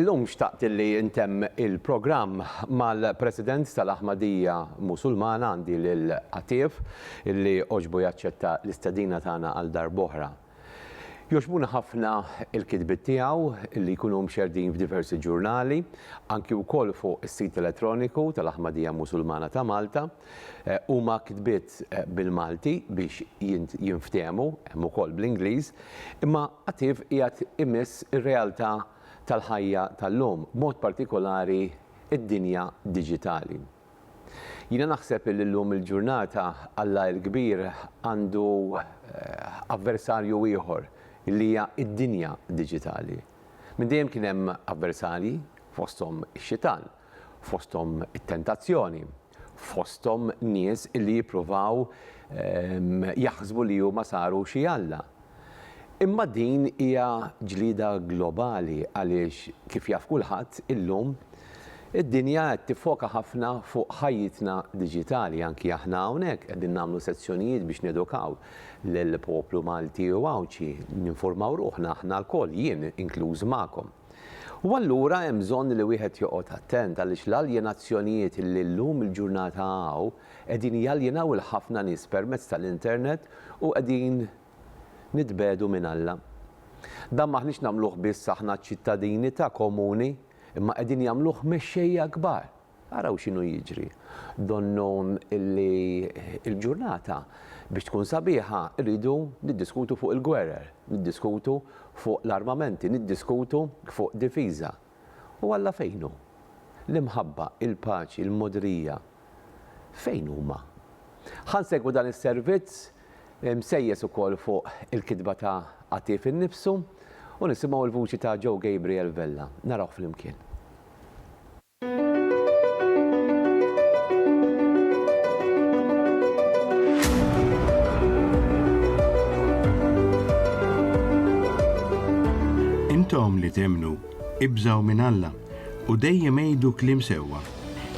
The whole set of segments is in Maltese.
Illum xtaqt li ntemm il-programm mal-President tal-Aħmadija Musulmana għandi lil Għattieb illi għoġbu jaċċetta l-istedina tagħna għal darb'oħra. Jogħġbuna ħafna l-kitbiet tiegħu li jkunu mxerrdin f'diversi ġurnali, anki wkoll fuq is-sit elettroniku tal-Aħmadija Musulmana ta' Malta. Huma kitbiet bil-Malti biex jinftehmu, hemm ukoll bl-Ingliż, imma Attiv qiegħed imiss ir-realtà tal-ħajja tal-lum, b'mod partikolari d-dinja diġitali. Jiena naħseb illi llum il-ġurnata Alla il-Kbir għandu avversarju ieħor illi hija d-dinja diġitali. Minn dejjem kien hemm avversarji, fosthom ix-Xitan, fosthom it-tentazzjoni, fosthom nies illi jippruvaw jaħsbu li huma saru xi alla. Imma din hija ġlieda globali għaliex, kif jaf kulħadd, illum id-dinja qed tiffoka ħafna fuq ħajjitna diġitali. Anki aħna hawnhekk qegħdin nagħmlu sezzjonijiet biex nedukaw lill-poplu Malti u Għawdxi, ninfurmaw ruħna aħna lkoll, jien inkluż magħkom. U allura hemm bżonn li wieħed joqgħod attent għaliex l-aljenazzjonijiet li llum il-ġurnata hawn, Qegħdin jaljenaw 'il ħafna nies permezz tal-internet u qegħdin nitbegħdu minn Alla. Dan m'aħniex nagħmluh biss aħna ċ-ċittadini ta' komuni, imma qegħdin jagħmluh mexxejja kbar. Araw x'inhu jiġri. Donnu li l-ġurnata biex tkun sabiħa rridu niddiskutu fuq il-gwerer, niddiskutu fuq l-armamenti, niddiskutu fuq difiża. U Alla fejn hu? L-imħabba, il-paċi, il-mogħdrija, fejn huma? Ħa nsegwu dan is-servizz, msejjes ukoll fuq il-kitba ta' Għatief innifsu, u nisimgħu l-vuċi ta' Joe Gabriel Vella. Narawh flimkien. Intom li temmnu Ibżgħu minn Alla u dejjem għidu kliem sewwa.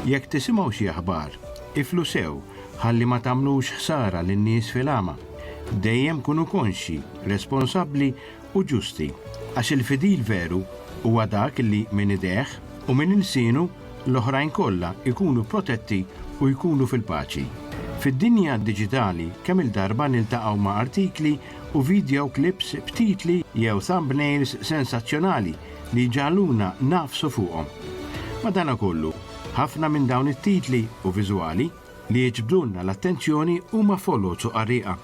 Jekk tisimgħu xi aħbar, iflu sew ħalli ma tagħmlux ħsara lin-nies fil-għama. Dejjem kunu konxji, responsabbli u ġusti, għax il-fidil veru huwa dak li minn idejh u minn ilsienu l-oħrajn kollha jkunu protetti u jkunu fil-paċi. Fid-dinja diġitali kemm-il darba niltaqgħu ma' artikli u video clips b'titli jew thumbnails sensazzjonali li jġagħluna nagħfsu fuqhom. Madankollu, ħafna minn dawn it-titli u viżwali li jiġbdulna l-attenzjoni huma foloz u qarrieqa.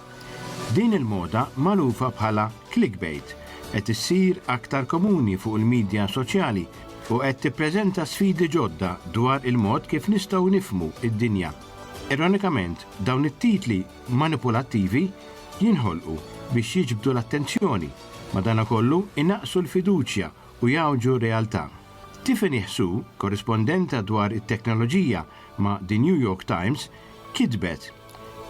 Din il-moda magħrufa bħala clickbait qed issir aktar komuni fuq il-midja soċjali u qed tippreżenta sfidi ġodda dwar il-mod kif nistgħu nifhmu d-dinja. Ironikament, dawn it-titli manipulattivi jinħolqu biex jiġbdu l-attenzjoni, madankollu inaqqsu l-fiduċja u jgħawġu r-realtà. Tiffany Hsu, korrispondenta dwar it-teknoloġija ma' The New York Times, kitbet,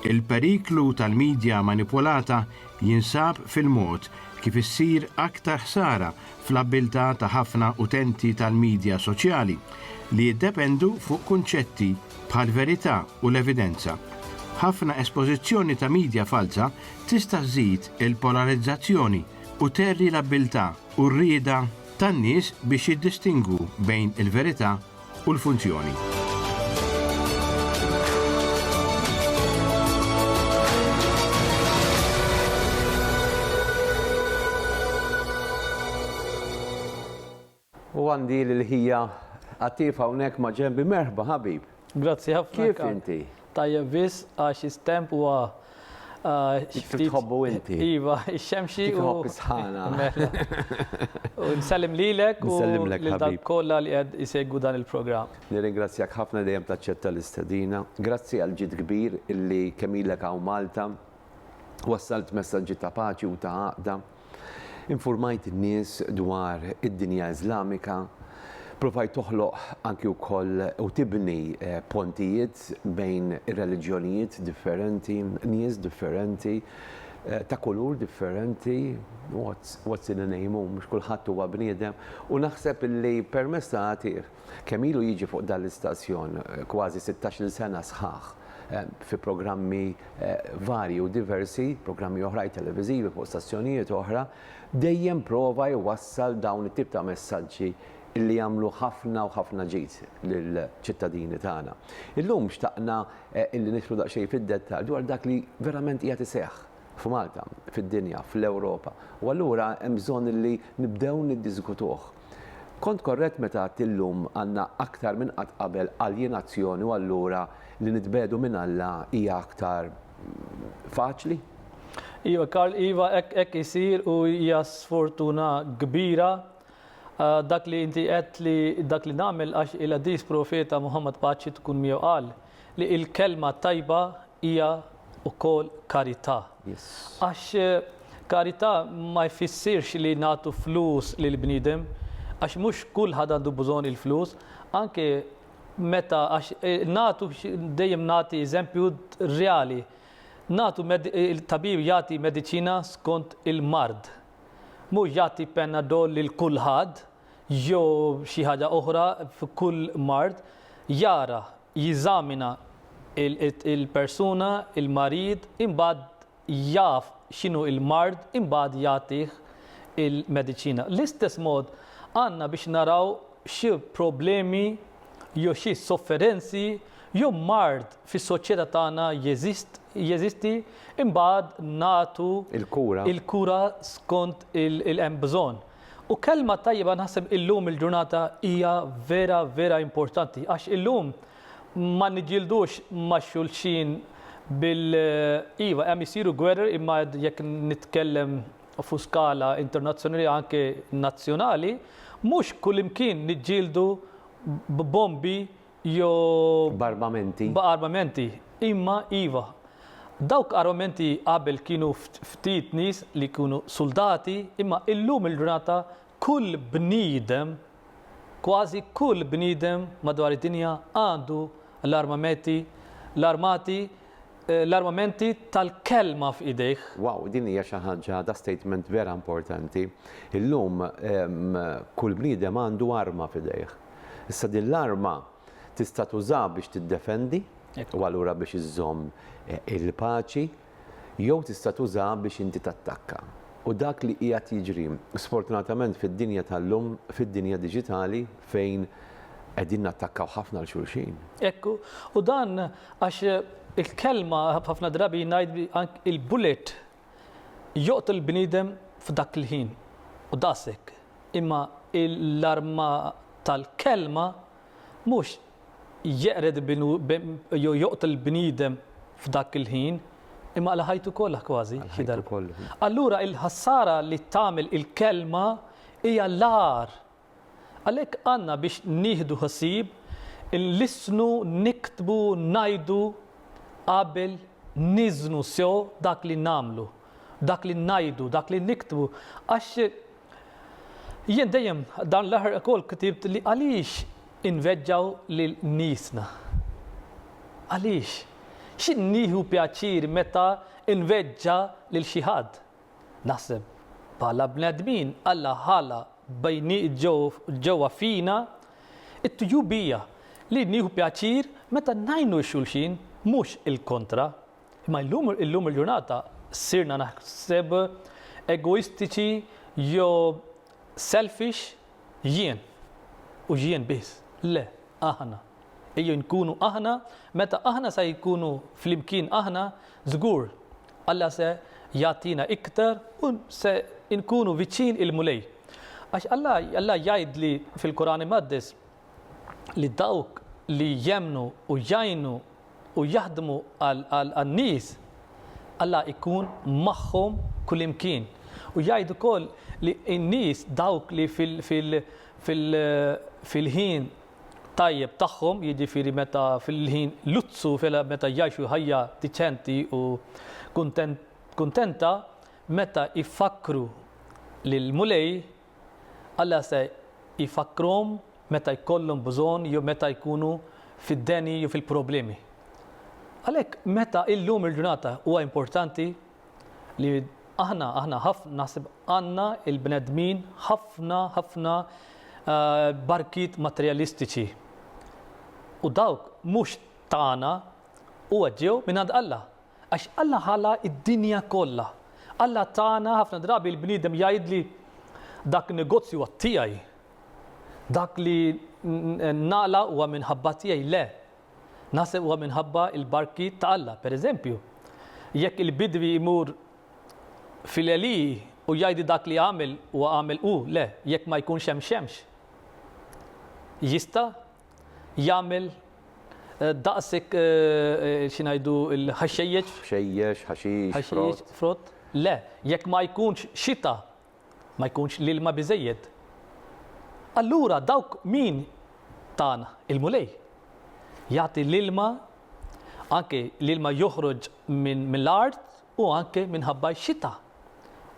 Il-periklu tal-midja manipulata jinsab fil-mod kif issir aktar ħsara fl-abbiltà ta' ħafna utenti tal-midja soċjali li jiddependu fuq kunċetti bħall-verità u l-evidenza. Ħafna espożizzjoni ta' midja falza tista' żżid il-polarizzazzjoni u tgħerri l-abbiltà u r-rieda tan-nies biex jiddistingwu bejn il-verità u l-funzjoni. U għandi l-ħija għatif hawnhekk ma' ġembi merħba ħabib. Grazzi ħafna. Kif inti? Tajjeb biss għax is-temp huwa Kif tħobbu inti? Iva, ix-xemxi. Kif tħobb is-sħana. Mela. U nsellim lilek u lil dak kollha li qed isegwu dan il-programm. Nirringrazzjak ħafna li dejjem taċċetta l-istedina. Grazzi għall-ġid kbir illi kemm ilek hawn Malta, wassalt messaġġi ta' paċi u ta' għaqda. Infurmajt in-nies dwar id-dinja Iżlamika, provajt toħloq anki wkoll u tibni pontijiet bejn ir-reliġjonijiet differenti, nies differenti, ta' kulur differenti, what's in a name hu mhux kulħadd huwa bniedem, u naħseb illi permezz ta' għatieh, Kemm ilu jiġi fuq dan l-istazzjon? Kważi sittax-il sena sħaħ fi programmi varji u diversi, programmi oħrajn televiżivi fuq stazzjonijiet oħra, dejjem prova jwassal dawn it-tip ta' messaġġi li jagħmlu ħafna u ħafna ġid lill-ċittadini tagħna. Illum xtaqna li nidħlu daqsxejn fid-dettall dwar dak li verament qiegħed iseħħ f'Malta, fid-dinja, fl-Ewropa u allura hemm bżonn li nibdew niddiskutuh. Kont korrett meta għedt illum għandna aktar minn qatt qabel aljenazzjoni u allura li nitbegħdu minn Alla hija aktar faċli? Iva Karl, iva hekk hekk isir u hija sfortuna kbira dak li inti għedt li dak li nagħmel għax il-Għadis Profeta Muħammad paċi tkun miegħu qal, Li il-kelma tajba hija wkoll karità. Għax karità ma jfissirx li nagħtu flus lil bniedem, għax mhux kulħadd għandu bżonn il-flus, anke meta għax nagħtu dejjem nagħti eżempju reali. Nagħtu il-tabib jagħti mediċina skont il-mard. Mhux jagħti panadol lil kulħadd jew xi ħaġa oħra f'kull mard, jara, jeżamina l-persuna, il-marid, imbagħad jaf x'inhu l-mard, imbagħad jagħtih il-mediċina. L-istess mod għandna biex naraw xi problemi jew xi sofferenzi jew mard fis-soċjetà tagħna jeżisti, imbagħad nagħtu il-kura skont il-hemm bżonn. U kelma tajba naħseb illum il-ġurnata hija vera vera importanti għax illum ma niġġieldux ma' xulxin bil iva hemm isiru gwerer imma jekk nitkellem fuq skala internazzjonali anke nazzjonali mhux kullimkien niġġieldu b'bombi jew. B'armamenti. B'armamenti. Imma, iva, dawk armamenti qabel kienu ftit nies li jkunu suldati, imma illum il-ġurnata kull bniedem, kważi kull bniedem madwar id-dinja għandu l-armameti, l-armati, l-armamenti tal-kelma f'idejh. Wow, din hija xi ħaġa da statement vera importanti. Illum kull bniedem għandu arma f'idejh. Issa din l-arma tista' tuża biex tiddefendi u allura biex iżżomm il-paċi jew tista' tuża biex inti tattakka. U dak li qiegħed jiġri sfortunatament fid-dinja tal-lum, fid-dinja diġitali fejn qegħdin nattakkaw ħafna 'l xulxin. Hekk hu. U dan għax il-kelma, ħafna drabi ngħid anke il-bullet joqtol bniedem f'dak il-ħin u daqshekk, imma l-arma tal-kelma mhux jeqred jew joqtol bniedem f'dak il-ħin, imma għal ħajtu kollha kważi xi darba. Allura l-ħsara li tagħmel il-kelma hija l-agħar Għalhekk għandna biex nieħdu ħsieb inlissnu, niktbu, ngħidu qabel niżnu sew dak li nagħmlu, dak li ngħidu, dak li niktbu għax jien dejjem dan l-aħħar ukoll ktibt li għaliex inveġġgħu lil niesna? Għaliex? X'innieħu pjaċir meta nveġġa' lil xi ħadd? Naħseb, bħala bnedmin, Alla ħala ġewwa fina t-tjubija li nieħu pjaċir meta ngħinu x-xulxin, mhux il-kontra. Imma llum illum il-ġurnata sirna naħseb egoistiċi jew selfish, jien u jien biss. Le, aħna. Ejjew inkunu aħna, meta aħna se jkunu flimkien aħna, żgur Alla se jagħtina iktar u se nkunu viċin il-Mulej. Għax Alla, Alla jgħid li fil-Quran Imqaddes li dawk li jemmnu u jgħinu u jaħdmu għan-nies, Alla jkun magħhom kullimkien. U jgħid ukoll li n-nies dawk li fil-ħin tajjeb tagħhom, jiġifieri meta fil-ħin luzzu meta jgħixu ħajja diċenti u kuntenta, meta jfakkru lill-Mulej, Alla se jfakkrhom meta jkollhom bżonn jew meta jkunu fid-deni jew fil-problemi. Għalhekk meta illum il-ġurnata huwa importanti Li aħna, aħna ħafna, naħseb għandna il-bnedmin ħafna, ħafna barkiet materjalistiċi. U dawk mhux tagħna huwa ġew minn għand Alla. Għax Alla ħala id-dinja kollha. Alla tagħna ħafna drabi l-bniedem jgħidli dak negozju huwa tiegħi. Dak li nagħla huwa minħabba tiegħi le, Naħseb huwa minħabba l-barki ta' Alla, per eżempju. Jekk il-bidwi jmur fil-għelieqi u jgħidi dak li għamel huwa għamel hu, le, jekk ma jkunx hemm xemx, jista' jagħmel daqs hekk, xi ngħidu, il-ħaxxejjeġ? Ħxejjex, ħaxix, frott. Ħaxix, frott. Le, jekk ma jkunx xita, ma jkunx l-ilma biżżejjed, allura dawk min tagħna il-Mulej jagħti l-ilma, anke l-ilma joħroġ mill-art u anke minħabba x-xita.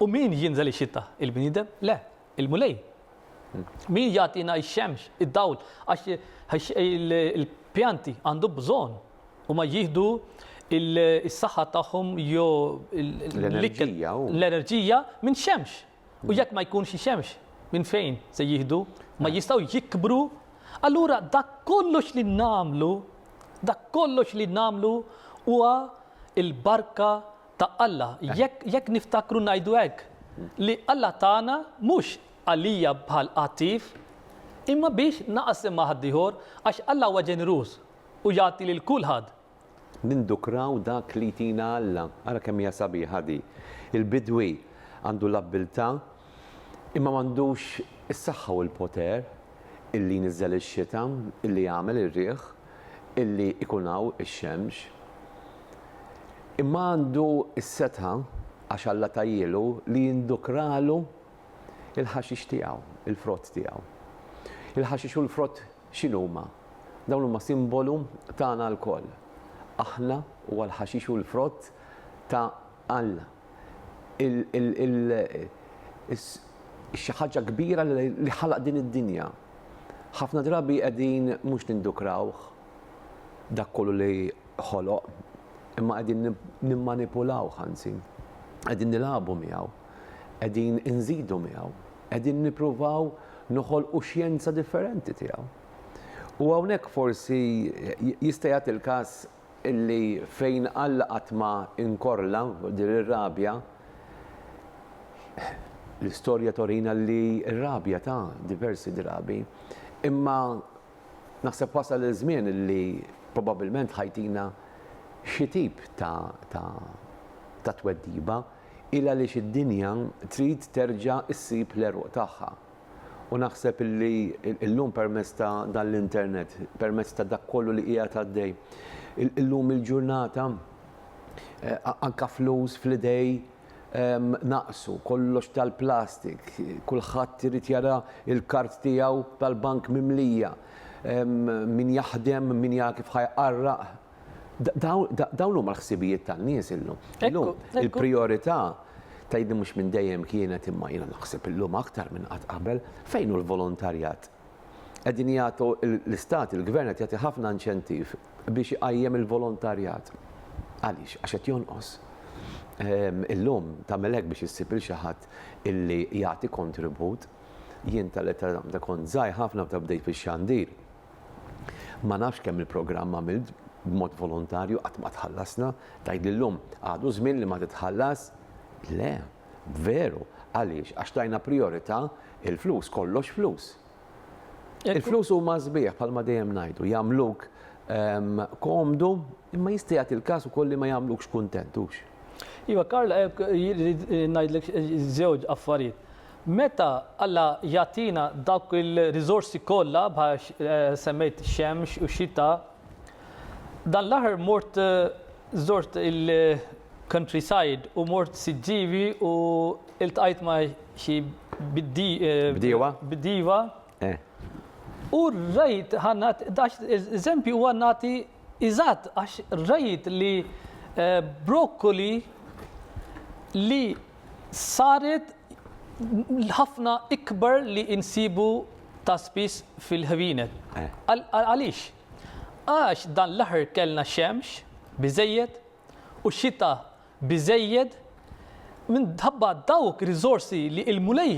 U min jinżel ix-xita? Il-bniedem? Le, il-Mulej. Min jagħtina x-xemx, id-dawl, għax il-pjanti għandu bżonn Huma jieħdu is-saħħa tagħhom jew l-enerġija minn xemx. U jekk ma jkunx xemx, minn fejn se jieħdu? Ma jistgħu jikbru. Allura dak kollox li nagħmlu, dak kollox li nagħmlu huwa il-barka ta' Alla. Jekk niftakru ngħidu hekk li Alla tagħna mhux għalija bħal qattif, imma biex naqsem ma' ħaddieħor għax Alla huwa ġeneruż. U jagħti lil kulħadd. Nindukraw dak li jtina Alla. Ara kemm hija sabiħa di. Il-bidwi għandu l-abbiltà, imma m'għandux is-saħħa u l-poter, illi jniżżel ix-xita, illi jagħmel ir-riħ, illi jkun hawn ix-xemx. Imma għandu s-setgħa, għax Alla tahielu, li jindukralu l-ħaxix tiegħu, il-frott tiegħu. Il-ħaxix u l-frott X'inhuma? Dawn huma simbolu tagħna lkoll, aħna u għall-ħaxix hu l-frott ta' Alla. Xi ħaġa kbira li ħalaq din id-dinja. Ħafna drabi qegħdin mhux nindukrawh dak kollu li ħoloq, imma qegħdin nimmanipulawh anzi, qegħdin nilagħbu miegħu. qegħdin inżidu miegħu, qegħdin nippruvaw noħolqu xjenza differenti tiegħu. U hawnhekk forsi jista' jagħti l-każ illi fejn Alla qatt ma inkorla din ir-rabja, l-istorja torina li r-rabja ta' diversi drabi, imma naħseb wasal iż-żmien illi probabbilment ħa jtina xi tip ta' tweġiba. il għaliex id-dinja trid terġa' ssib l-għeruq tagħha. U naħseb li llum permezz ta' dan l-internet, permezz ta' dak kollu li qiegħed għaddej, illum il-ġurnata anke flus fl-idej naqsu, kollox tal-plastik, kulħadd irid jara l-kard tiegħu tal-bank mimlija, min jaħdem, min jara kif ħa jqarraq, Dawn huma l-ħsibijiet tan-nies illum. Illum il-prijorità tgħidli mhux minn dejjem kienet imma jiena naħseb illum aktar minn qatt qabel fejn hu l-volontarjat. Qegħdin jagħtu l-istat, il-gvern qed jagħti ħafna inċentiv biex iqajjem il-volontarjat. Għaliex? Għax qed jonqos. Illum tagħmel hekk biex issib il xi ħadd illi jagħti kontribut. Jien tal-età kont żgħir ħafna meta bdejt fix-xandir. Ma nafx kemm il-programm għamilt b'mod volontarju qatt ma tħallasna, tgħid li llum għadu żmien li ma titħallas? Le, veru, għaliex għax tajna prijorità il-flus, kollox flus. Il-flus huma sbieħ bħalma dejjem ngħidu, jagħmluk ehm, komdu imma jista' jagħti l-każ ukoll li ma jagħmlukx kuntent, hux? Iva, Karl, eh, eh, ngħidlek eh, żewġ affarijiet. Meta Alla jagħtina dawk il-riżorsi kollha bħal semmejt xemx u xita, dan l-aħħar mort żort il-countryside u mort Siġġiewi u iltqajt ma' xi bdiewa u rajt, ħa nagħti daqs eżempju ħa nagħti eżatt għax rajt li brokkoli li saret ħafna ikbar li insibu ta' spiss fil-ħwienet. Għaliex? Għax dan l-aħħar kellna xemx biżżejjed u xita biżżejjed minħabba dawk riżorsi li il-Mulej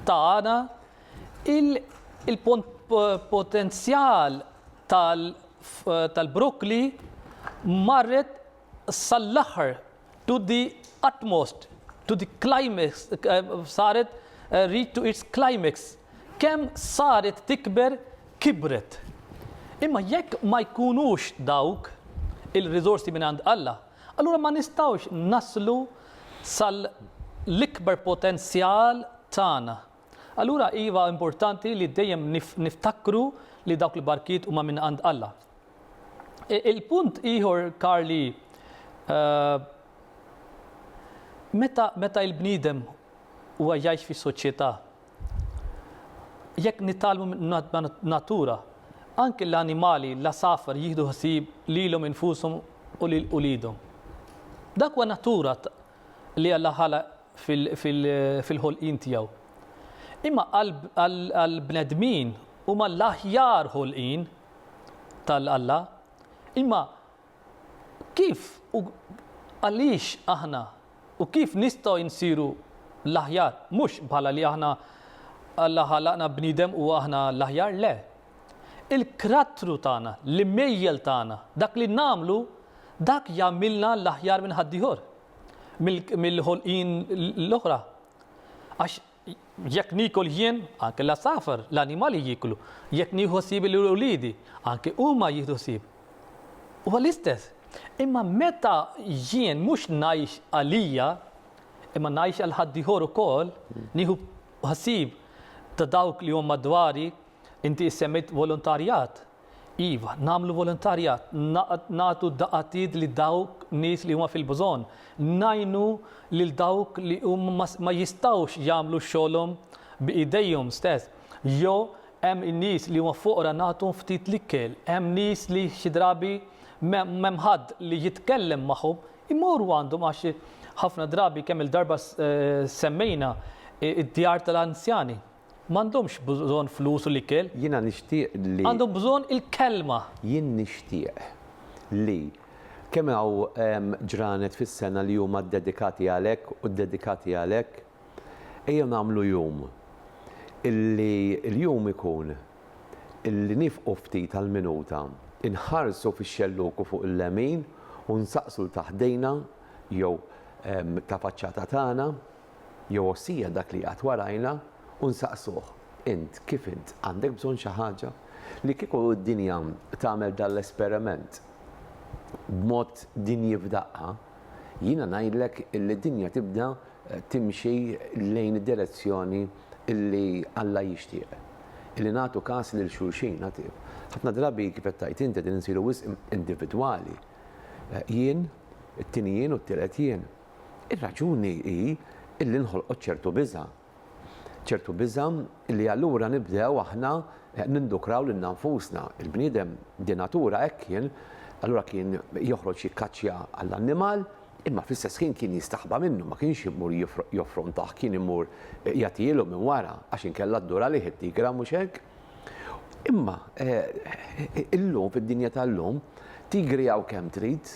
tana il-potenzjal tal-brokkli marret sal-aħħar To the utmost, to the climax, saret reach to its climax, kemm saret tikber kibret. Imma jekk ma jkunux dawk il-riżorsi minn għand Alla, allura ma nistgħux naslu sal-ikbar potenzjal tagħna. Allura iva importanti li dejjem niftakru li dawk il-barkiet huma minn għand Alla. E, il-punt ieħor Karli eh, meta meta il-bniedem huwa jgħix fi soċjetà jekk nitalmu natura anke l-animali la safar jieħdu ħsieb lilhom infushom u lil ulidhom. Dak huwa natura li Alla ħalaq fil-ħolqien tiegħu. Imma għall-bnedmin huma l-aħjar ħolqien ta' Alla. Imma kif u għaliex aħna u kif nistgħu insiru l-aħjar? Mhux bħala li aħna Alla ħalaqna bniedem u aħna l-aħjar, le. Il-krattru tagħna, l-imejjel tagħna, dak li nagħmlu, dak jagħmilna l-aħjar minn ħaddieħor, mill-ħolqien l-oħra. Għax jekk niekol jien, anke l-għasafar, l-annimali jieklu, jekk nieħu ħsieb lil uliedi, anke huma jieħdu ħsieb. Huwa l-istess. Imma meta jien mhux ngħix għalija, imma ngħix għal ħaddieħor ukoll, nieħu ħsieb ta' dawk li huma madwari, Inti issemmejt volontarjat. Iva, nagħmlu volontarjat, nagħtu daqatit lil dawk nies li huma fil-bżonn, ngħinu lil dawk li huma ma jistgħux jagħmlu xogħolhom bi idejhom stess. Jew hemm nies li huma foqra nagħtuhom ftit l-ikel, hemm nies li xi drabi m'hemm ħadd li jitkellem magħhom, imorru għandhom għax ħafna drabi kemm-il darba semmejna d-djar tal-anzjani. M'għandhomx bżonn flus u l-ikel. Jiena nixtieq li. Għandhom bżonn il-Kelma. Jien nixtieq li. Kemm hawn ġranet fis-sena li huma ddedikati għalhekk u ddedikati għalhekk? Ejjew nagħmlu jum illi l-jum ikun illi niefqu ftit għal minuta, inħarsu fix-xelluku fuq il-lemin u nsaqsu 'l ta' ħdejna jew ta' faċċata tagħna, Jowosija dak li jgħadd warajna u nsaqsuh, Int, kif int, għandek bżonn xi ħaġa? Li kieku d-dinja tagħmel dan l-esperiment b'mod dinji f'daqqa, jiena ngħidlek illi d-dinja tibda timxi lejn id-direzzjoni illi Alla jixtieq, illi nagħtu kas lil xulxin. Ħafna drabi, kif qed tgħid int, qegħdin insiru wisq individwali, jien, it-tieni jien u t-tielet jien. Ir-raġuni hi illi nħolqot ċertu biża'. Ċertu biża' illi allura nibdew aħna nindukraw lilna nfusna. Il-bniedem de natura hekk kien, allura kien joħroġ jikkaċċja għall-annimal, imma fl-istess ħin kien jistaħba minnu, ma kienx imur joffrontah, kien imur jagħtihielu minn wara, għax inkella dduralih it-tigra, mhux hekk? Imma illum fid-dinja tal-lum, tigri hawn kemm trid,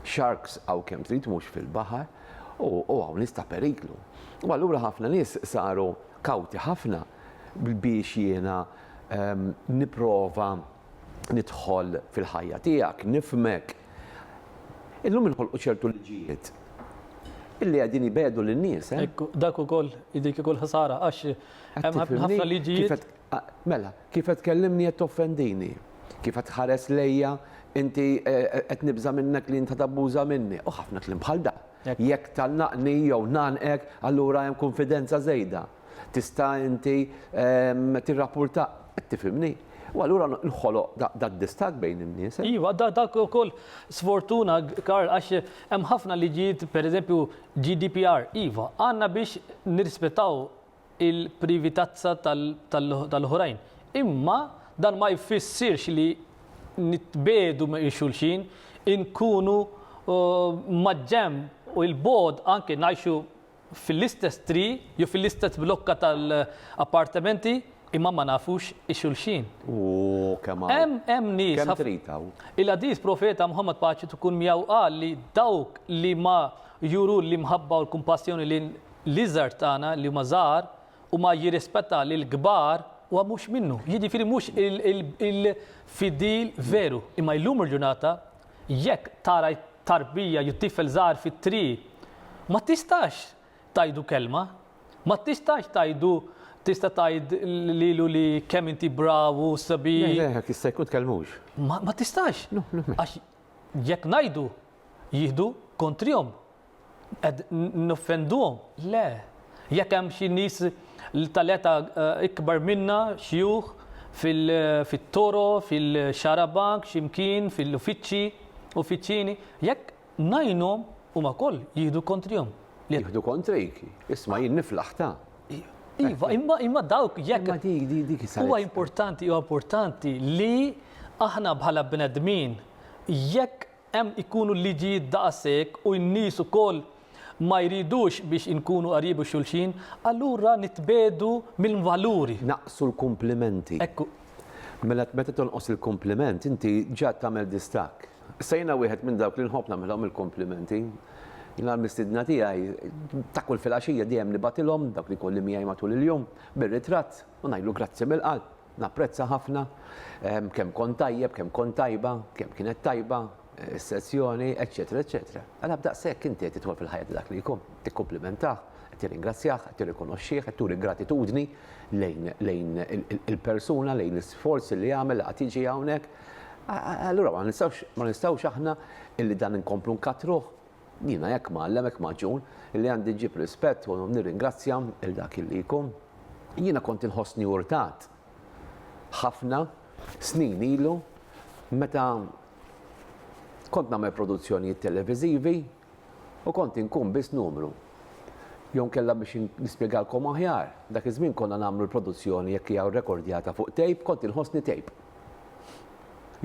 sharks hawn kemm trid mhux fil-baħar, u hawn nies ta' periklu. U allura ħafna nies saru kawti ħafna biex jiena nipprova nidħol fil-ħajja tiegħek, nifhmek. Illum inħolqu ċertu liġijiet illi qegħdin jbiegħdu lin-nies. Dak ukoll jidhri kieku l-ħsara għax Hemm ħafna liġijiet. Mela, kif qed tkellimni qed toffendini. Kif qed tħares lejja inti qed nibża' minnek li inti tabbuża minni. U ħafna kliem bħal dan. Jekk tgħannaqni jew ngħannqek, allura hemm kunfidenza żejda. Tista' inti tirrappurta, qed tifhimni? U allura nħoloq dad-distakk bejn in-nies. Iva, dak ukoll sfortuna, Karl, għax hemm ħafna liġijiet, pereżempju GDPR, iva, għandna biex nirrispettaw il-privatezza tal-oħrajn. Imma dan ma jfissirx li nitbiegħdu minn xulxin, inkunu maġġenb u 'il bogħod anke ngħixu fil-istess triq jew fil-istess blokka tal-appartamenti imma ma nafux xulxin. Ooh kemm hawn. Hemm nies. Kemm trid hawn. Il-Għadis Profeta Muħammad paċi tkun miegħu qal li dawk li ma juru l-imħabba u l-kumpassjoni lejn L-iżgħar tagħna li huma żgħar u ma jirrispettaw lill-kbar huwa mhux minnu, jiġifieri mhux il-fidil veru. Imma illum il-ġurnata jekk tara tarbija jew tifel żgħar fit-triq ma tistax tgħidu kelma, ma tistax tgħidu tista' tgħid lilu li kemm inti bravu, sabiħ. Le, le, jista' jkun tkellmux. Ma tistax. Għax jekk ngħidu jieħdu kontrihom Qed noffenduhom? Le. Jekk hemm xi nies tal-età ikbar minna, xjuħ, fit-toro, fil-xarabank, xi mkien, fil-uffiċċji, uffiċjini, jekk ngħinhom, huma wkoll jieħdu kontrihom. Jieħdu kontrik? Isma' jien niflaħ ta'. Iva, imma dawk jekk. Imma dik, dik, dik is-saħħa. Huwa importanti, huwa importanti li aħna bħala bnedmin jekk Hemm ikunu l-liġijiet daqashekk u n-nies ukoll ma jridux biex inkunu qarib u xulxin, allura nitbiegħdu mill-valuri. Naqsu l-kumplimenti. Hekk hu. Mela meta tonqos il-kumpliment inti ġa tagħmel distakk. Issa jiena wieħed minn dawk li nħobb nagħmilhom il-kumplimenti. Jiena l-mistiedna tiegħi ta' kull filgħaxija dejjem nibgħatilhom, dawk li jkolli miegħi matul il-jum, bir-ritratt u ngħidlu grazzi mill-qalb. Napprezza ħafna kemm kont tajjeb, kemm kont tajba, kemm kienet tajba s-sessjoni, eċċetera, eċċetera. Għala b'daqshekk inti qed tidħol fil-ħajja ta' dak li jkun? Qed tikkumplimentah, qed tirringrazzjah, qed tirrikonoxxih, qed turi gratitudni lejn il-persuna, lejn l-isforz li għamel li qagħad jiġi hawnhekk? Allura ma nistgħux aħna li dan inkomplu nkattruh? Jiena hekk mgħallem, hekk magħġun, illi għandi ġġib rispett u nirringrazzja lil dak illi jkun. Jiena kont inħossni urtat ħafna snin ilu meta kont nagħmel produzzjonijiet televiżivi u kont inkun biss numru. Jew inkella biex nispjegalkom aħjar, dak iż-żmien konna nagħmlu l-produzzjoni jekk hija rekordjata fuq tape, kont inħossni tape.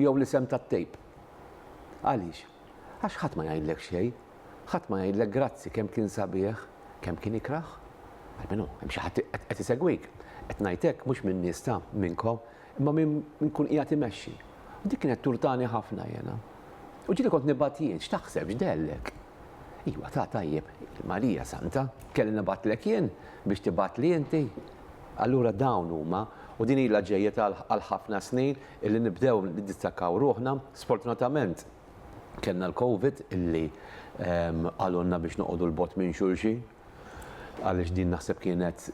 Jew l-isem tat-tape. Għaliex? Għax ħadd ma jgħidlek xejn. Ħadd ma jgħidlek grazzi kemm kien sabiħ, kemm kien ikrah. Almenu, hemm xi ħadd qed isegwik. Qed ngħid hekk mhux min-nies ta' minnkom, imma minn min kun qiegħed imexxi. U dik kienet turtani ħafna jiena. U ġieli kont nibgħat jien, x'taħseb, x'dellek? Iwa, ta' tajjeb, il-Marija Santa, kelli nibgħatlek jien biex tibgħatli inti? Allura dawn huma, u din ilha ġejja għal ħafna snin, Illi nibdew niddistakkaw ruħna. Sfortunatament kellna l-Covid illi qalulna biex noqogħdu 'l bogħod minn xulxin għaliex din naħseb kienet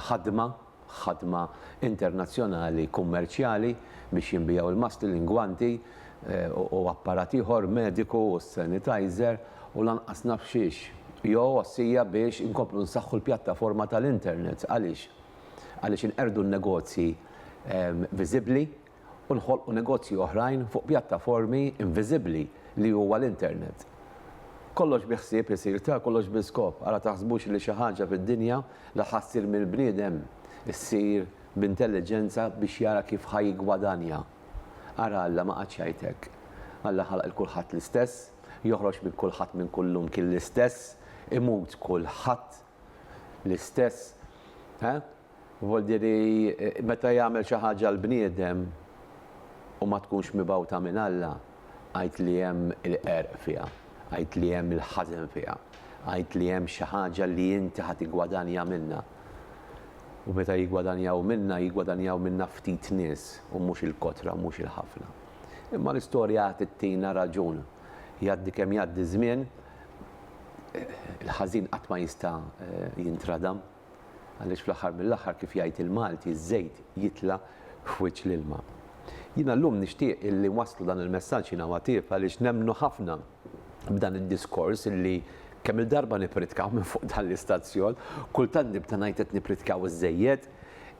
ħadma, ħadma internazzjonali kummerċjali biex jinbiegħu l-maskli, l-ingwanti u apparat ieħor mediku u s-sanitizer u lanqas naf xiex. Jo għossija biex inkomplu nsaħħu l-pjattaforma tal-internet għaliex? għaliex inqerdu n-negozji viżibbli u nħolqu negozji oħrajn fuq pjattaformi inviżibbli li huwa l-internet. Kollox bi ħsieb isir ta' kollox bi skop, ara taħsbux li xi ħaġa fid-dinja li ħa ssir mill-bniedem ssir b'intelliġenza biex jara kif ħa jiggwadanja. Ara Alla ma qagħadx jgħid hekk. Alla ħalaq 'l kulħadd l-istess, joħroġ minn kulħadd minn kull lum kien l-istess, imut kulħadd l-istess, eh? Vuol dire meta jagħmel xi ħaġa l-bniedem u ma tkunx mibgħuta minn Alla, għid li hemm il-qerq fiha, għid li hemm il-ħażen fiha, għid li hemm xi ħaġa li inti ħa tiggwadanja minnha. U meta jiggwadanjaw minnha, jiggwadanjaw minnha ftit nies u mhux il-kotra u mhux il-ħafna. Imma l-istorja tittina raġun. Jgħaddi kemm jgħaddi ż-żmien, il-ħażin qatt ma jista' jintradam għaliex fl-aħħar mill-aħħar kif jgħid il-Malti ż-żejt jitla' f'wiċċ l-ilma. Jiena llum nixtieq illi nwasslu dan il-messaġġ jiena u Għattieb għaliex nemmnu ħafna b'dan id-diskors illi kemm-il darba nippritkaw minn fuq dan l-istazzjon, kultant nibda ngħid qed nippritkaw iżżejjed,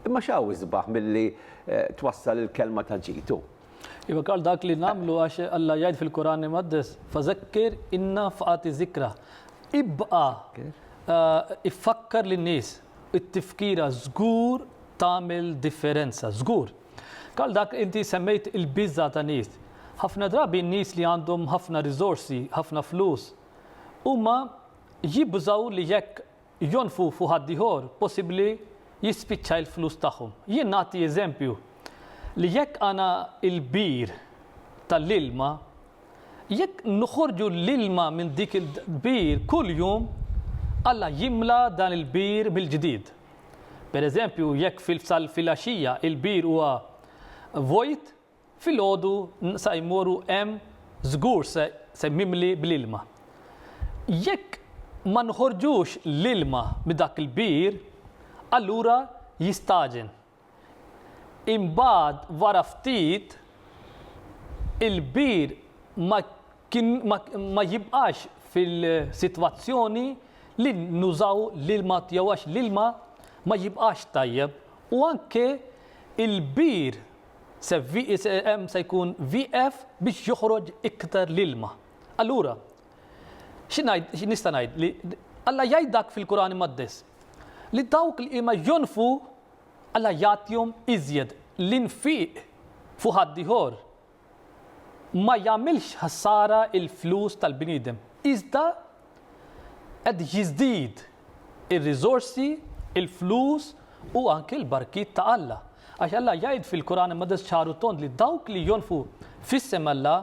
imma x'hawn isbaħ milli twassal il-kelma ta' ġid hu? Iva Karl dak li namlu għax Alla jgħid fil-Kuran Imqaddes, fazakkir inna faqati zikra. Ibqa eh, iffakkar lin nies it-tifkira żgur tagħmel differenza, żgur. Karl dak inti semmejt il-biża ta' nies. Ħafna drabi nies li għandhom ħafna riżorsi, ħafna flus, huma jibżaw li jekk Jonfqu fuq ħaddieħor, possibbli jispiċċa il-flus tagħhom. Jien nagħti eżempju li jekk għana il-bir tal-ilma, jekk noħorġu l-ilma minn dik il-bir kull jum, Alla jimla dan il-bir mill-ġdid. Pereżempju, jekk fil-fsal filgħaxija il-bir huwa vojt, Filgħodu sa jmorru hemm żgur se se mimli bl-ilma. Jekk ma nħorġux l-ilma mid-dak il-bir, allura jistagħġen. Imbagħad wara ftit il-bir ma kien ma ma jibqax fil-sitwazzjoni li nużaw l-ilma tiegħu għax l-ilma ma jibqax tajjeb u anke il-bir Se hemm se jkun wieqef biex joħroġ iktar l-ilma. Allura, xi ngħid, xi nista' ngħid li Alla jgħid dak fil-Quran Imqaddes li dawk li ma jonfu Alla jagħtihom iżjed l-infiq fuq ħadd ieħor ma jagħmilx ħsara il-flus tal-bniedem. Iżda Qed jiżdied ir-riżorsi, il-flus u anki l-barkiet ta' Alla. Għax Alla jgħid fil-Quran Imqaddes ċar u tond li dawk li jonfqu f'isem Alla,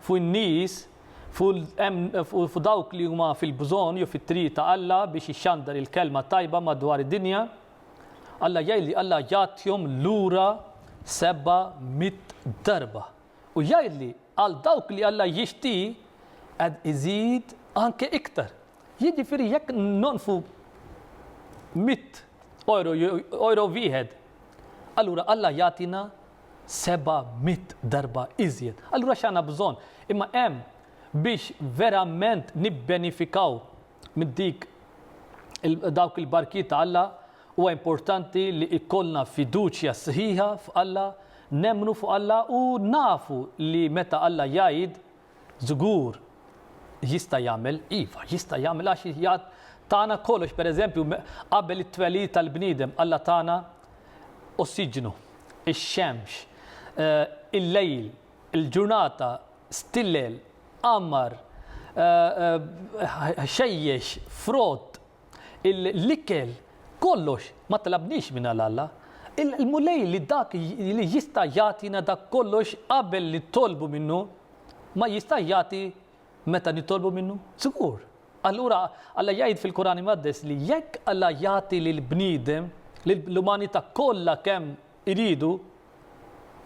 fuq in-nies, fuq dawk li huma fil-bżonn jew fit-triq ta' Alla biex ixxandar il-kelma tajba madwar id-dinja, Alla jgħid li Alla jagħtihom lura seba' mitt darba. u jgħidli għal dawk li Alla jixti qed iżid anke iktar. Jiġifieri jekk nonfqu mitt oro jew oro wieħed, allura Alla jagħtina seba' mitt darba iżjed. Allura x'għandna bżonn? Imma hemm biex verament nibbenifikaw minn dik dawk il-barkijiet ta' Alla, huwa importanti li jkollna fiduċja sħiħa f'Alla, nemmnu fuq Alla u nafu li meta Alla jgħid, żgur jista' jagħmel, iva, jista' jagħmel għax jgħid tagħna kollox, pereżempju qabel it-twelid tal-bniedem Alla tagħna ossiġnu, ix-xemx, eh, il-lejl, Il-ġurnata stillel, għammar, ħxejjex, frott, l-ikel, kollox, ma tlabniex minn għal Alla. Il-Mulej li dak li jista' jagħtina dak kollox qabel nitolbu minnu, ma jistax jagħti meta nitolbu minnu? Żgur! Allura Alla jgħid fil-Kuran Imqaddes li jekk Alla jagħti lill-bniedem, lill-umanità kollha kemm iridu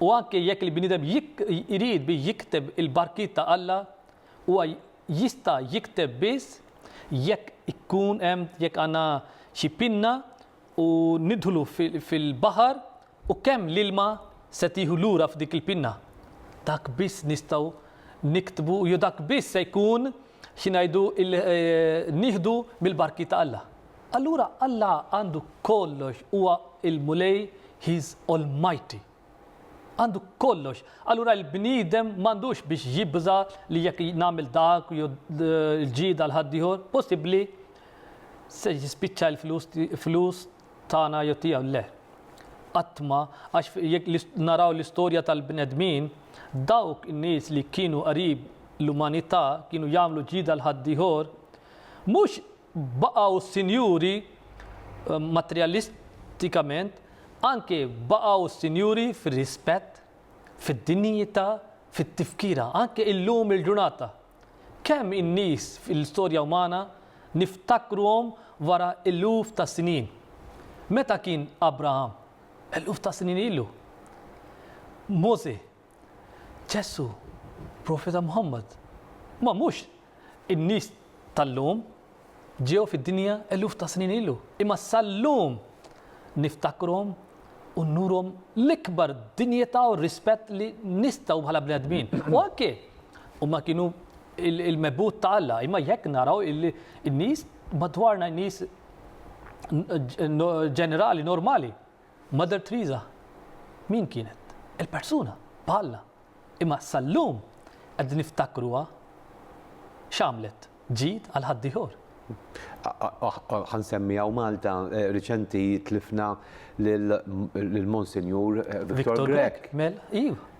u anke jekk il-bniedem irid bi jikteb il-barkiet ta' Alla, huwa jista' jikteb biss jekk ikun hemm jekk għandna xi pinna u nidħlu fil-baħar u kemm l-ilma se tieħu lura f'dik il-pinna. Dak biss nistgħu niktbu jew dak biss se jkun Xi ngħidu illi nieħdu mill-barki ta' Alla. Allura Alla għandu kollox, huwa l-Mulej, he is almighty. Għandu kollox. Allura l-bniedem m'għandux biex jibża' li jekk nagħmel dak jew l-ġid għal ħaddieħor, possibbli se jispiċċa l-flus tagħna jew tiegħu le. Qatt ma, għax jekk naraw l-istorja tal-bnedmin, dawk in-nies li kienu qrib l-umanità kienu jagħmlu ġida għal ħaddieħor, mhux baqgħu sinjuri materjalistikament, anke baqgħu sinjuri fir-rispett, fid-dinjità, fit-tifkira, anke illum il-ġurnata. Kemm in-nies fil-istorja umana niftakruhom wara eluf ta' snin? Meta kien Abraham? Eluf ta' snin ilu. Mosè? Ġesù? Profeta Muħammad? Ma mhux in-nies tal-lum. Ġew fid-dinja eluf ta' snin ilu, imma sal-lum niftakruhom u nurhom l-ikbar dinjità u rispett li nistgħu bħala bnedmin. U anke huma kienu l-mebgħud ta' Alla, imma jekk naraw in-nies madwarna, in-nies ġenerali normali, Mother Teresa min kienet? Il-persuna bħalna. imma sal-lum qegħdin niftakruha x'għamlet, ġid għal ħaddieħor. Ħa nsemmi hawn Malta, riċenti tlifna lill-Monsinjur Victor Grech. Mela, iva.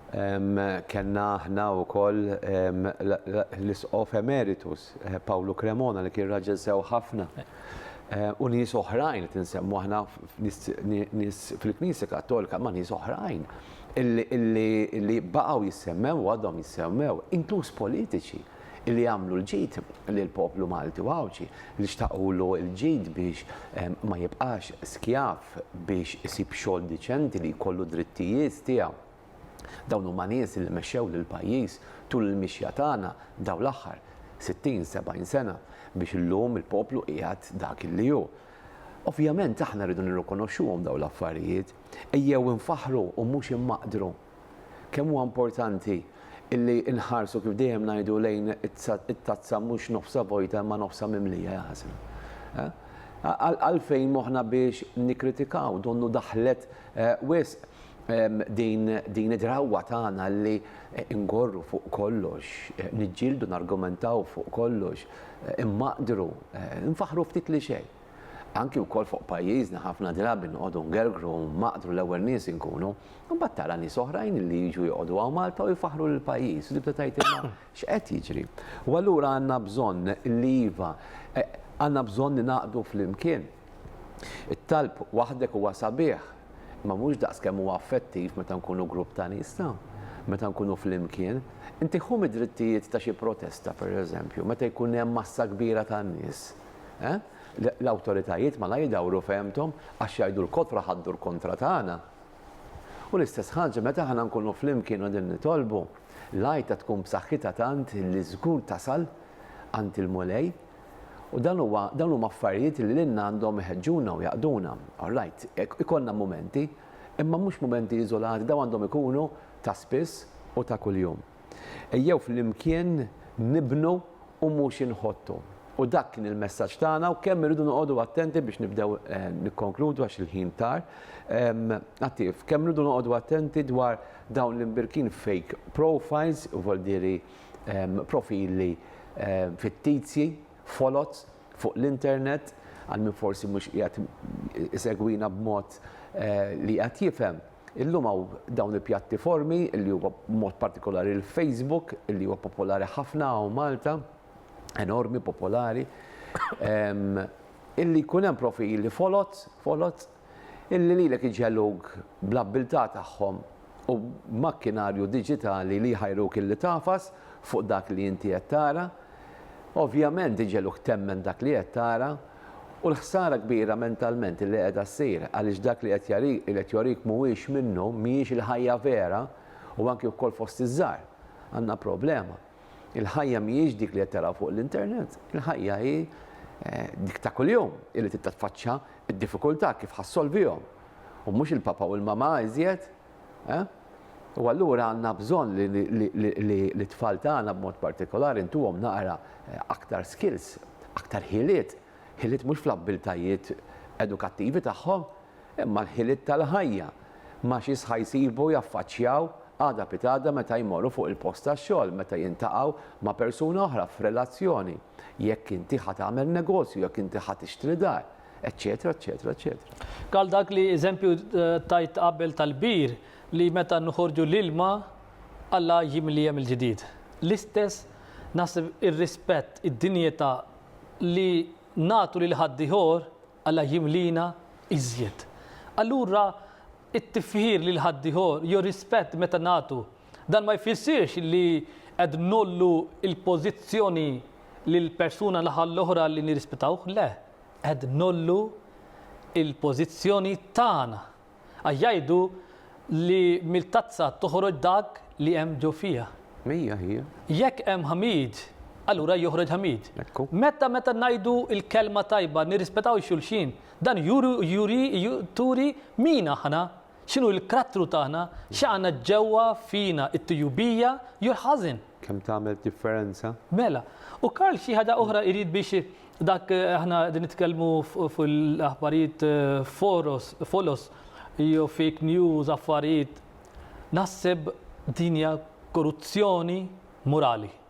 Kellna aħna wkoll l-Isqof Emeritus Pawlu Cremona li kien raġel sew ħafna. U nies oħrajn qed insemmu aħna nies fil-Knisja Kattolika ma' nies oħrajn. li baqgħu jissemmew u għadhom jissemmew, inkluż politiċi li għamlu l-ġid lill-poplu Malti u Għawdxi, li xtaqulu l-ġid biex ma jibqax skjav, biex isib xogħol diċenti, li jkollu d-drittijiet tiegħu. Dawn huma nies li mexxew lill-pajjiż tul il-mixja tagħna dawn l-aħħar 60, 70 sena biex illum il-poplu qiegħed dak li hu. Ovvjament aħna rridu nirrikonoxxuhom dawn l-affarijiet. Ejjew infaħħru u mhux immaqdru. Kemm huwa importanti illi nħarsu kif dejjem ngħidu lejn it-tazza mhux nofsha vojta imma nofsha mimlija jaħasem. Għalfejn moħħna biex nikkritikaw, donnu daħlet wisq din id-drawwa tagħna li ngorru fuq kollox, niġġieldu nargumentaw fuq kollox, immaqdru, infaħħru ftit li xejn. Anki wkoll fuq pajjiżna ħafna drabi noqogħdu ngergru u nmaqdru l-ewwel nies inkunu, imbagħad tara nies oħrajn li jiġu joqogħdu hawn Malta u jfaħħru lill-pajjiż u tibda tgħid imma x'qed jiġri? U allura għandna bżonn li iva, għandna bżonn li naqdu flimkien. It-talb waħdek huwa sabiħ, imma mhux daqs kemm huwa effettiv meta nkunu grupp ta' nies ta', meta nkunu flimkien. Inti ħu mid-drittijiet ta' xi protesta, pereżempju, meta jkun hemm massa kbira ta' nies, L-awtoritajiet malajr idawru fehmthom għax jgħidu l-kotra ħaddur kontra tagħna. U l-istess ħaġa meta aħna nkunu flimkien u qegħdin nitolbu, l-għajta tkun b'saħħitha tant li żgur tasal għand il-Mulej. U dan huwa dawn huma affarijiet li lilna għandhom iħeġġuna u jaqduna. Orrajt, ikollna mumenti, imma mhux mumenti iżolati, dawn għandhom ikunu ta' spiss u ta' kuljum. Ejjew flimkien nibnu u mhux inħottu. U dak kien il-messaġġ tagħna u kemm irridu noqogħdu attenti biex nibdew eh, nikkonkludu għax il-ħin tar. Attiv, kemm irridu noqogħdu attenti dwar dawn l-imbirkin fake profiles, u voldiri profili fittizji, folots fuq l-internet, għal min forsi mhux qiegħed isegwina b'mod eh, li qed jifhem. Illum hawn dawn il-pjattiformi li huwa b'mod partikolari l-Facebook li huwa popolari ħafna hawn Malta, enormi popolari, illi jkun hemm profili foloz, foloz, illi lilek iġegħluk bl-abbiltà tagħhom u b'makkinarju diġitali li jħajruk illi tagħfas fuq dak li inti qed tara, Ovvjament iġegħluk temmen dak li qed tara u l-ħsara kbira mentalment li qiegħda ssir għaliex dak li qed jorik mhuwiex minnu, mhijiex il-ħajja vera u anki wkoll fost iż-żgħar għandna problema. Il-ħajja mhijiex dik li qed taraw fuq l-internet, il-ħajja hi dik ta' kuljum illi titfaċċa d-diffikultà kif ħa ssolvihom u mhux il-papa u l-mama iżjed. Eh? U allura għandna bżonn li t-tfal tagħna b'mod partikolari ntuhom naqra eh, aktar skills, aktar ħiliet, ħiliet mhux fl-abbiltajiet edukattivi tagħhom, imma l-ħiliet tal-ħajja ma' xi sħajsibu jaffaċċjaw għada pitada meta jmorru fuq il-post tax-xogħol, meta jintaqgħu ma' persuna oħra f'relazzjoni, jekk inti ħa tagħmel negozju, jekk inti ħa tixtri dar. eċċetera, eċċetera, eċċetera. Għal dak li eżempju tajt qabel tal-bir li meta nħorġu l-ilma Alla jimlija mill-ġdid. L-istess naħseb ir-rispett, id-dinjità li nagħtu lil ħaddieħor Alla jimlina iżjed. Allura it-tifħir lil ħaddieħor jew rispett meta nagħtu dan ma jfissirx li qed nollu l-pożizzjoni lill-persuna l-oħra li nirrispettawh, le. Qed ngħollu l-pożizzjoni tagħna. Għax jgħidu li mill-tazza toħroġ dak li hemm ġo fiha. Hija, hija. Jekk hemm ħmid, allura joħroġ ħmid. Ekku. Meta, meta ngħidu l-kelma tajba, nirrispetaw xulxin, dan juri, juri, turi min aħna. X'inhu l-karattru tagħna, x'għandna ġewwa fina, it-tujubija jew l-ħażen. Kemm tagħmel differenza? Mela, u Karl xi ħaġa oħra jrid biex dak aħna qegħdin nitkellmu fuq l-aħbarijiet foros, folos, jew fake news, affarijiet, naħseb din hija koruzzjoni morali.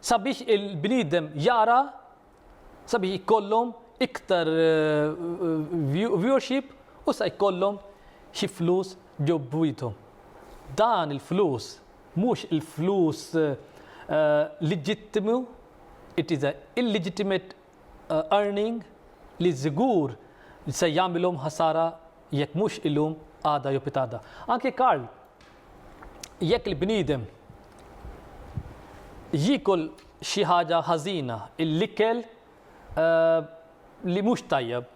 Sabiex il-bniedem jara, sabiex jkollhom iktar viewership u sa jkollhom xi flus ġo bwiethom. Dan il-flus mhux il-flus leġittimu, it is a illegitimate earning li żgur se jagħmilhom ħasara jekk mhux illum għada jew pitada. Anki Karl, jekk il-bniedem jikol xi ħaġa ħażina, l-ikel eh, li mhux tajjeb,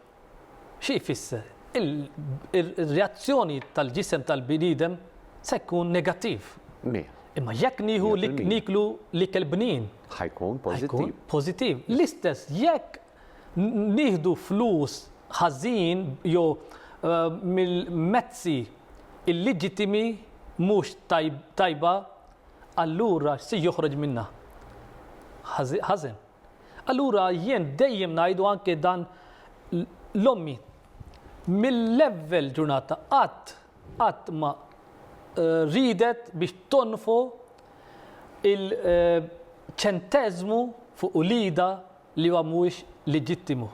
Xi jfisser? Ir-reazzjoni tal-ġisem tal-bniedem se jkun negattiv. Mija. Imma jekk nieħu li nieklu l-ikel bnin. Ħa jkun pożittiv. Pożittiv. L-istess jekk nieħdu flus ħażin jew mill-mezzi illeġittimi mhux tajba, allura x'se joħroġ minnha? Ħażen. Allura jien dejjem ngħidu anke dan l-ommi mill-ewwel ġurnata qatt qatt ma eh, ridet biex tonfu il-ċenteżmu eh, fuq ulida li huwa mhuwiex leġittimu.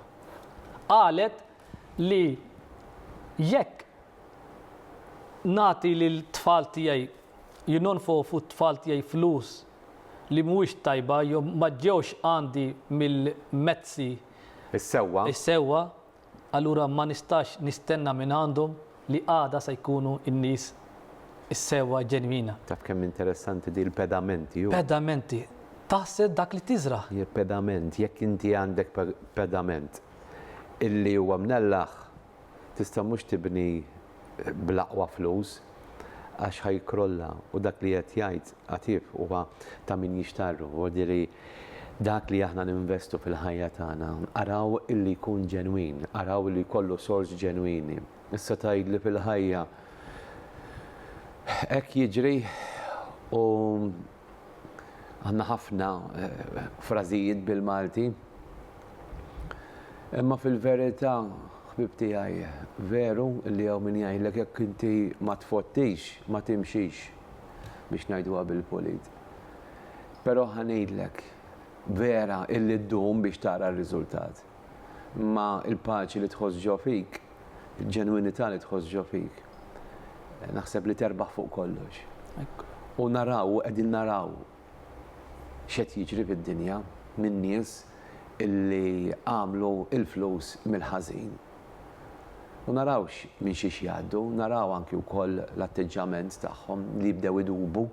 Qalet li jekk nati lil tfal tiegħi jinonfu fuq tfal tiegħi flus li mhuwiex tajba jew ma ġewx għandi mill-mezzi Is-sewwa. is-sewwa, allura ma nistax nistenna minn għandhom li għada se jkunu n-nies is-sewwa ġenwina. Taf kemm interessanti di l-pedamenti hu? Pedamenti, Taħsed dak li tiżra'. Pedament, Jekk inti għandek pedament illi huwa mnellaħ, Tista' mhux tibni bl-aqwa flus għax ħa jikkrolla u dak li qed jgħid Għatib huwa ta' min jixtarru. Jiġifieri dak li aħna ninvestu fil-ħajja tagħna araw illi jkun ġenwin, araw illi jkollu sors ġenwini. Issa tgħidli fil-ħajja hekk jiġri u Għandna ħafna frażijiet bil-Malti. Imma fil-verità, ħbieb tiegħi, veru li hawn min jgħidlek jekk inti ma tfottix, ma timxix, biex ngħiduha bil-pulit. Però ħa ngħidlek, vera illi ddum biex tara r-riżultat. Imma l-paċi li tħoss ġo fik, il-ġenwinità li tħoss ġo fik, naħseb li terbaħ fuq kollox. U naraw, u qegħdin naraw x'qed jiġri fid-dinja minn nies li għamlu l-flus mill-ħażin. U naraw minn xiex jgħaddu, naraw anki wkoll l-atteġġjament tagħhom li jibdew idubu.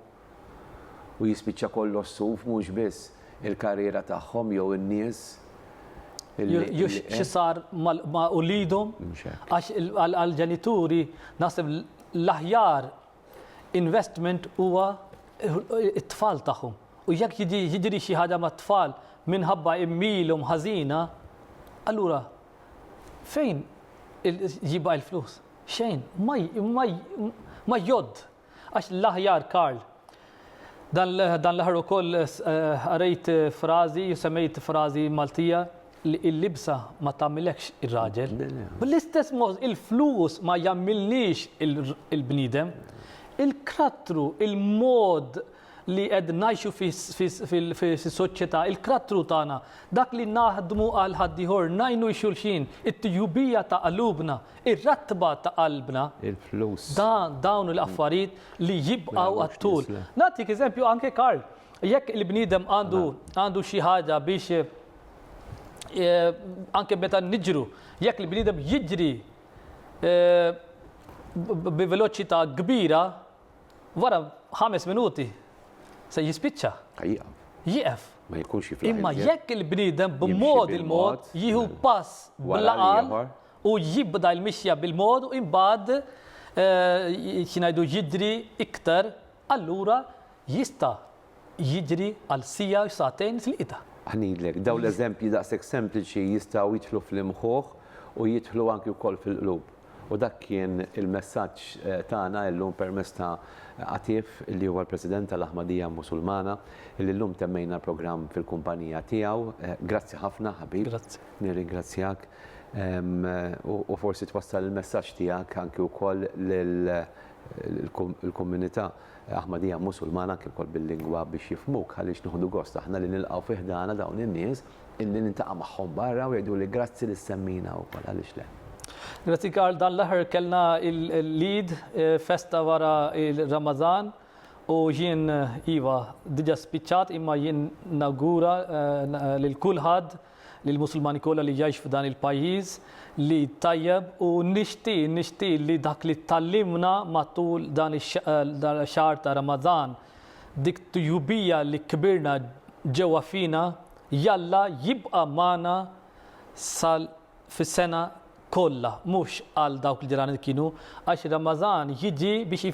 u jispiċċa kollox suf mhux biss il-karriera tagħhom jew in-nies li. Xi sar ma' uliedhom? Mhux hekk. Għax għall-ġenituri naħseb l-aħjar investment huwa t-tfal tagħhom. U jekk jiġri xi ħaġa mat-tfal minħabba għemmielhom ħażina, allura fejn jibqa' l-flus? Xejn. Ma jgħodd. Għax l-aħjar Karl. Dan dan l-aħħar ukoll qrejt frażi, semmejt frażi Maltija li l-libsa ma tagħmilekx ir-raġel. Bl-istess mod il-flus ma jagħmilniex il-bniedem. Il-krattru, il-mod li qed ngħixu fis-soċjetà, il-karattru tagħna, dak li naħdmu għal ħaddieħor, ngħinu xulxin, it-tjubija ta' qalubna, ir-ratba ta' qalbna. Il-flus. Dawn l-affarijiet li jibqgħu għat-tul. Nagħtik eżempju anke Karl, jekk il-bniedem għandu għandu xi ħaġa biex anke meta niġru, jekk il-bniedem jiġri bi veloċità kbira, Wara ħames minuti se jispiċċa. Jieqaf. Jieqaf. Ma jkunx jiflaħ. Imma jekk il-bniedem b'mod il-mod jieħu pass bl-aqal u jibda l-mixja bil-mod u imbagħad eh, xinajdu jidri iktar, allura jista' jiġri għal siegħa jew sagħtejn fil-qita. Aħ ngħidlek, dawn l-eżempji daqshekk sempliċi jistgħu jidħlu fl-imħuħ u jidħlu anki wkoll fil-qlub. U dak kien il-messaġġ tagħna illum permezz ta' Atif li huwa l-President tal-Aħmadija Musulmana li llum temmejna l-programm fil-kumpanija tiegħu. Grazzi ħafna ħabib. Grazzi. Nirringrazzjak u forsi twassal il-messaġġ tiegħek anki wkoll lill-komunità. Aħmadija Musulmana anke wkoll bil-lingwa biex jifhmuk għaliex nieħdu gost aħna li nilqgħu fi ħdana dawn in-nies illi niltaqa' magħhom barra u jgħiduli grazzi li ssemmina wkoll għaliex le. Grazzi Karl, dan l-aħħar kellna l-Eid, festa wara r-Ramadan u jien iva diġa spiċċat imma jien nawgura lil kulħadd lil Musulmani kollha li jgħix f'dan il-pajjiż li tajjeb u nixtieq nixtieq li dak li tgħallimna matul dan ix-xahar ta' Ramadan dik tjubija li kbirna ġewwa fina jalla jibqa' magħna sal fis-sena kollha, mhux għal dawk li ġranet kienu, għax ir-Ramadan jiġi biex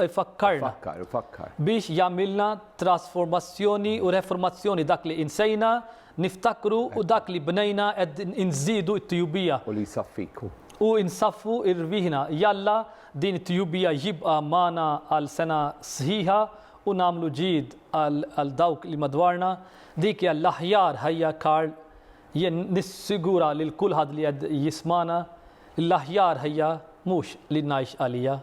ifakkarna. Ifakkar, ifakkar. Biex jagħmilna trasformazzjoni u reformazzjoni dak li insejna, niftakru u dak li bnejna qed inżidu t-tjubija. U li jsaffik. U nsaffu rwieħna. Jalla din it-tjubija jibqa' magħna għal sena sħiħa u nagħmlu ġid għal dawk li madwarna. Dik hija l-aħjar ħajja Karl Jien nissigura lil kulħadd li qed jismagħna li l-aħjar ħajja mhux li ngħix għalija,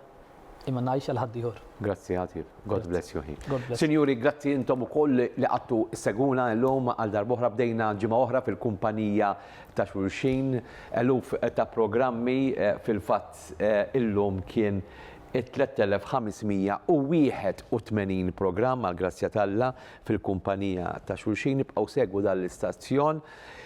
imma ngħix għal ħaddieħor. Grazzi ħatif. God bless you ħin. God bless. Sinjuri, grazzi intom ukoll li qagħdtu ssegwuna llum għal darb'oħra bdejna ġimgħa oħra fil-kumpanija ta' xulxin. Eluf ta' programmi fil-fatt illum kien it-3581 programm għall-grazzja t'Alla. fil-kumpanija ta' xulxin. Ibqgħu segwu dan l-istazzjon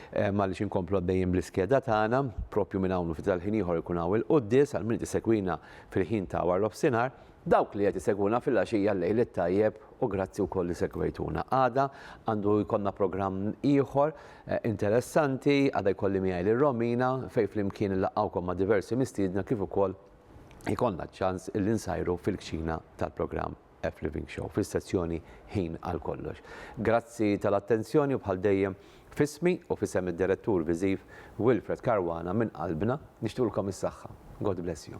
għaliex inkomplu għaddejjin bl-iskeda tagħna, propju minn hawn u ftit tal-ħin ieħor ikun hawn il-quddies għal min qed isegwina fil-ħin ta' warnofsinhar. Dawk li qed isegwuna fil-għaxija l-lejl it-tajjeb u grazzi wkoll li segwejtuna. Għada għandu jkollna programm ieħor interessanti, għada jkolli miegħi lil Romina fejn flimkien nlaqgħukom ma' diversi mistiedna kif ukoll ikollna ċ-ċans li nsajru fil-kċina tal-programm. F Living Show fis-sezzjoni Ħin għal Kollox. Grazzi tal-attenzjoni u bħal dejjem f'ismi u f'isem id-Direttur Viżiv Wilfred Caruana minn qalbna nixtqulkom is-saħħa. God bless you.